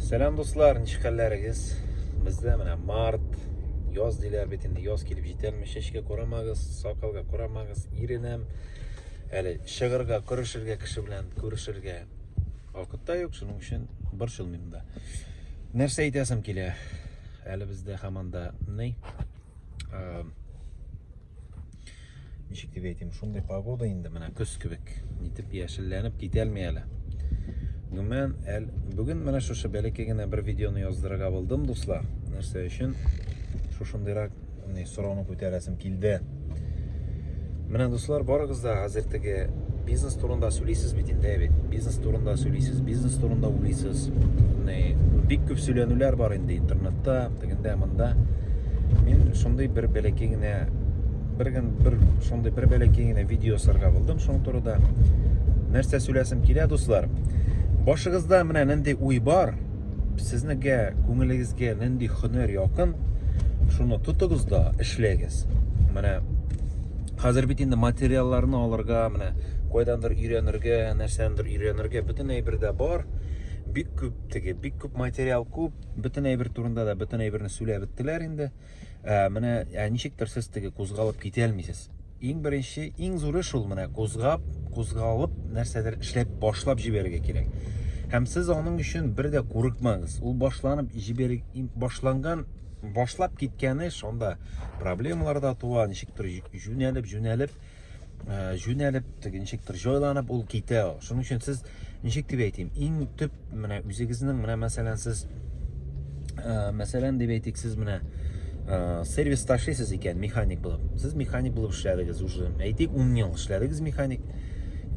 Сәлам дуслар, ничек хәлләрегез? Бездә менә март, яз диләр бит инде, яз килеп җитәлме, чәчкә карамагыз, сакалга карамагыз, иренәм. Әле чыгырга, күрешергә кеше белән күрешергә вакытта юк, шуның өчен борчылмыйм да. Нәрсә әйтәсем килә? Әле бездә хаманда ни? ничек дип әйтим шундый погода инде менә көз кебек нитеп яшелләнеп китәлми әле гомумән әл бүген менә шушы бәләкәй генә бер видеоны яздырырга булдым дуслар нәрсә өчен шушындыйрак не сорауны күтәрәсем килде менә дуслар барыгыз да хәзер теге бизнес турында сөйлисез бит инде бит бизнес турында сөйлисез бизнес турында уйлыйсыз бик күп сөйләнүләр бар инде интернетта Тегендә монда мин шундый бер бәләкәй генә бер генә бер шундый бер бәләкәй генә видео сырга булдым шуның турында. Нәрсә сөйләсем килә, дуслар? Башыгызда менә нинди уй бар, сезнегә, күңелегезгә нинди хөнәр якын, шуны тотыгыз да эшләгез. Менә хәзер бит инде материалларны алырга, менә кайдандыр өйрәнергә, нәрсәндер өйрәнергә бөтен әйбер дә бар. Бик күп теге, бик күп материал күп. Бөтен әйбер турында да бөтен әйберне сөйләп беттеләр инде. Ә, менә ә, ничектер сез теге кузгалып китә алмыйсыз. Иң беренче, иң зуры шул менә кузгап, кузгалып нәрсәдер эшләп башлап җибәрергә кирәк. Һәм сез аның өчен бер дә курыкмагыз. Ул башланып җибәр башланган башлап киткәне шунда проблемалар да туа, ничектер җүнәлеп, җүнәлеп э, җүнәлеп, теге ничектер җайланып ул китә. Шуның өчен сез ничек дип әйтим, иң төп менә үзегезнең менә мәсәлән сез э, мәсәлән дип әйтик, сез менә э, сервис ташлыйсыз икән механик булып. Сез механик булып эшләдегез уже. Әйтик, 10 ел эшләдегез механик.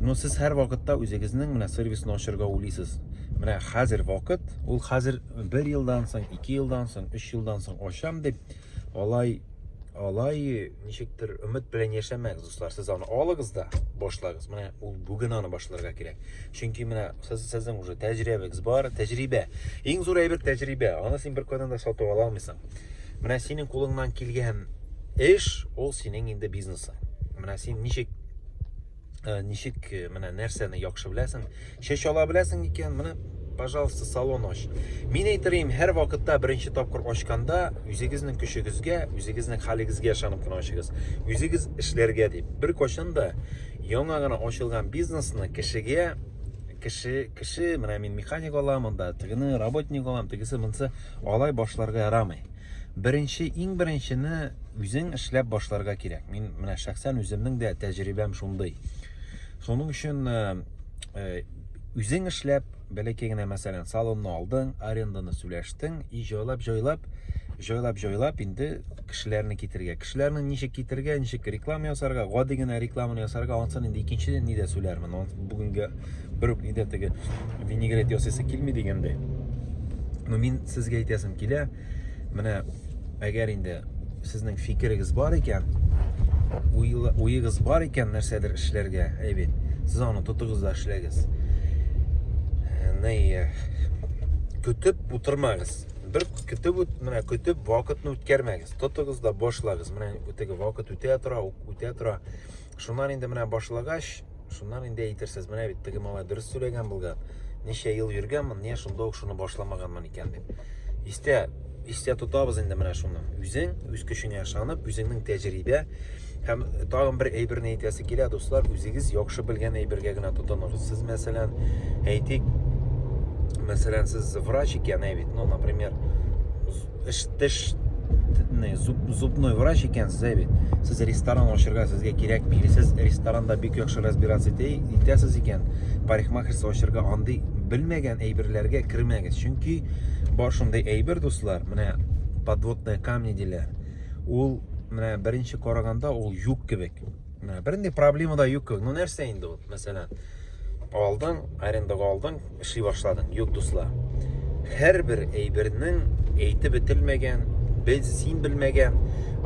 Но сез һәр вакытта үзегезнең менә сервисны ачарга уйлыйсыз. Менә хәзер вакыт, ул хәзер 1 елдан соң, 2 елдан соң, 3 елдан соң ачам дип Алай, алай, ничектер, өмет белән яшәмәгез, дуслар. Сез аны алыгыз да, башлагыз. Менә ул бүген аны башларга кирәк. Чөнки менә сез сезнең уже тәҗрибәгез бар, тәҗрибә. Иң зур әйбер тәҗрибә. Аны син беркайдан да сатып ала алмыйсың. Менә синең кулыңнан килгән эш, ул синең инде бизнесың. Менә син ничек Ә, ничек э, менә нәрсәне яхшы беләсең чәч ала беләсең икән менә пожалуйста салон ач мин әйтерим һәр вакытта беренче тапкыр ачканда үзегезнең көчегезгә үзегезнең хәлегезгә ышанып кына ачыгыз үзегез эшләргә дип бер кайчан да яңа гына ачылган бизнесны кешегә кеше кеше менә мин механик алам анда тегене работник алам тегесе монсы алай башларга ярамый Беренче, иң беренчене үзең эшләп башларга кирәк. Мин менә шәхсән үземнең дә тәҗрибәм шундый. Шуның өчен э, э, үзең эшләп, бәләкәй генә мәсәлән, салонны алдың, аренданы сүләштең, и җайлап-җайлап, җайлап-җайлап инде кешеләрне китергә. кешеләрнең ничек китергә, ничек реклама ясарга, гади генә рекламаны ясарга, ансын инде икенче нидә сөйләрмен. Аны бүгенге бер үк нидә теге винегрет ясыйсы килми дигәндәй. Но мин сезгә әйтәсем килә, менә әгәр инде сезнең фикерегез бар икән, уегыз бар икән нәрсәдер эшләргә, әйбит, сез аны тотыгыз да эшләгез. Э, Нәй, э, көтеп утырмагыз. бер көтеп үт менә көтеп вакытны үткәрмәгез тотыгыз да башлагыз менә теге вакыт үтә тора үтә тора шуннан инде менә башлагач шуннан инде әйтерсез менә бит теге малай дөрес сөйләгән булган ничә ел йөргәнмен не шунда ук шуны башламаганмын икән дип истә истә тотабыз инде менә шуны үзең үз көчеңә ышанып үзеңнең тәҗрибә Һәм тагын бер әйберне әйтәсе килә, дуслар, үзегез яхшы белгән әйбергә генә тотыныгыз. Сез, мәсәлән, әйтик, мәсәлән, сез врач икән, әйбит, ну, например, эш теш зуб, зубной врач икән сез әйбит. Сез ресторан ачырга сезгә кирәк мили. Сез ресторанда бик яхшы разбираться итәсез икән, парикмахерство ачырга андый белмәгән әйберләргә кермәгез. Чөнки бар шундый әйбер, дуслар, менә подводные камни диләр. Ул менә беренче караганда ул юк кебек. Менә бернинди проблема да юк кебек. Ну нәрсә инде ул? Мәсәлән, алдың, арендага алдың, эшли башладың. Юк, дуслар. Һәрбер әйбернең әйтеп бетелмәгән, без син белмәгән,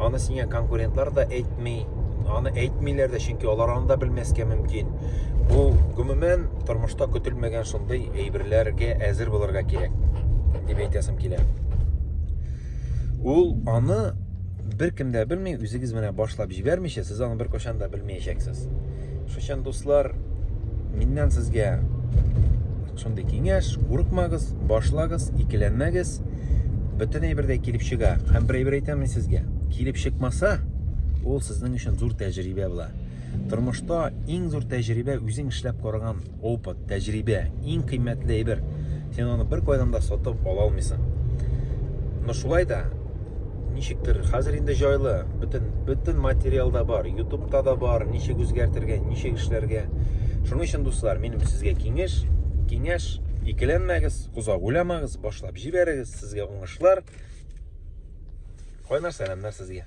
аны сиңа конкурентлар да әйтми, аны әйтмиләр дә, чөнки алар аны да белмәскә мөмкин. Бу гомумән тормышта көтелмәгән шундый әйберләргә әзер булырга кирәк дип әйтәсем килә. Ул аны бер кем дә белми, үзегез менә башлап җибәрмичә, сез аны бер кашан да белмәячәксез. Шушан дуслар, миннән сезгә шундый киңәш, курыкмагыз, башлагыз, икеләнмәгез. Бөтен әйбер дә килеп чыга. Һәм бер әйбер әйтәм мин сезгә, килеп чыкмаса, ул сезнең өчен зур тәҗрибә була. Тормышта иң зур тәҗрибә үзең эшләп караган Опыт, тәҗрибә, иң кыйммәтле әйбер. Син аны бер кайдан да сатып ала алмыйсың. Но шулай да ничектер хәзер инде җайлы, бөтен бөтен материал да бар, YouTube-та да бар, ничек үзгәртергә, ничек эшләргә. Шуның өчен дуслар, минем сезгә киңәш, киңәш, икеләнмәгез, озак уйламагыз, башлап җибәрегез, сезгә уңышлар. Кайнар сәламнәр сезгә.